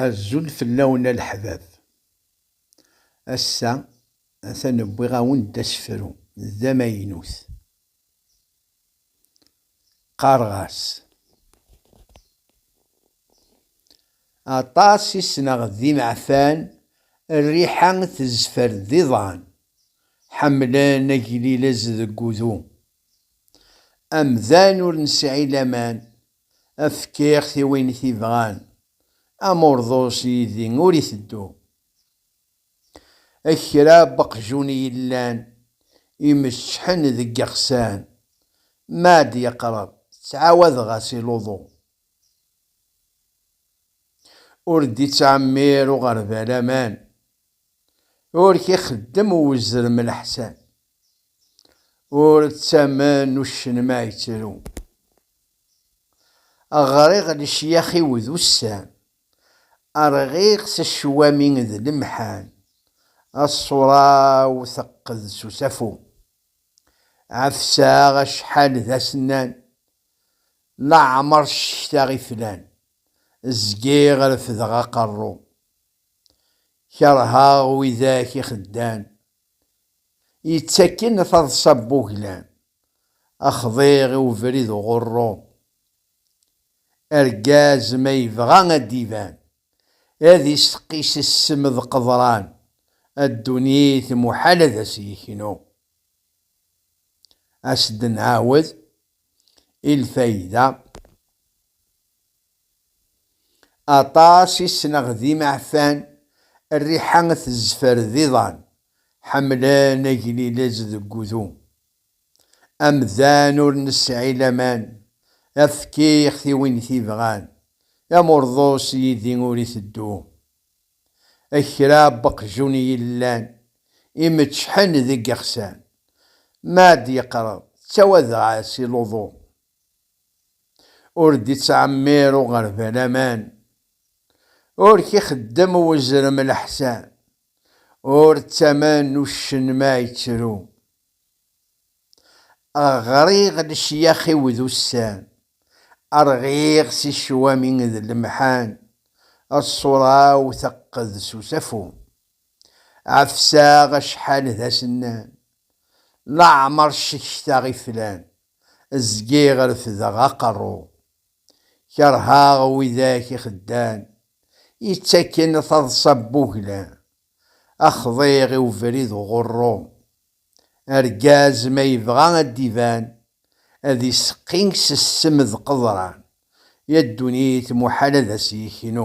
Azul fell-awen a leḥbab. Ass-a atan wwiɣ-awen-d asefru d amaynut. Qqareɣ-as. Aṭas i sneɣ d imeɛfan, rriḥa tezfer d iḍan, ḥemmlen aglilez deg udu. Amdan ur nesɛi laman Fkiɣ-t i win t-ibɣan. Am urḍus yid-i ur iteddu. Ak kra n weqjun i yellan imeččḥen deg iɣsan, mi ara d-yeqreb ttɛawadeɣ-as i luḍu. Ur d-ittɛemmir uɣerbal aman. Ur k-ixeddem uzrem leḥsan. ur ttamen uccen ma yettru. Ɣriɣ lecyax-iw d ussan, rɣiɣ s ccwami d lemḥan, ṣṣura-w teqqed s usafu. Ɛefseɣ acḥal d asennan, leɛmer ccektaɣ iflan, zgiɣ refdeɣ aqerru. Kerheɣ widak ixeddan yettakken a taḍsa n wuglan, axḍir i ubrid uɣurru. Argaz ma yebɣa ad d-iban, ad isteqqi s ssem d qeḍran, a ddunit muḥal ad as-yeknu. A s-d-nɛawed i lfayda. Aṭas i ssneɣ d imeɛfan, rriḥa tezfer d iḍan, ḥemmlen aglilez deg wudu. Amdan ur nesɛi laman, efk-ixt i win t-ibɣan, amurḍus yid-i ur iteddu. Kra n weqjun i yellan imeccḥen deg yexsan, ma ad d-yeqreḍ ttawadeɣ-as i luḍu, ur d-ittɛemmir uɣerbal aman, ur k-ixeddem uzrem leḥsan, ur ttamen uccen ma ittru. Ɣriɣ lecyax-iw d ussan, rɣiɣ si ccwami d lemḥan, ṣṣura-w teqqed s usafu. Ɛefseɣ acḥal d asennan, leɛmer ccektaɣ iflan, Zgiɣ refdeɣ aqerru. Kerheɣ widak ixeddan yettaken taḍsa n wuglan. A xḍiɣ i ubrid uɣurru. Argaz ma yebɣa ad d-iban ad iseqqi s ssem d qeḍran, ya ddunit muḥal ad as-yeknu.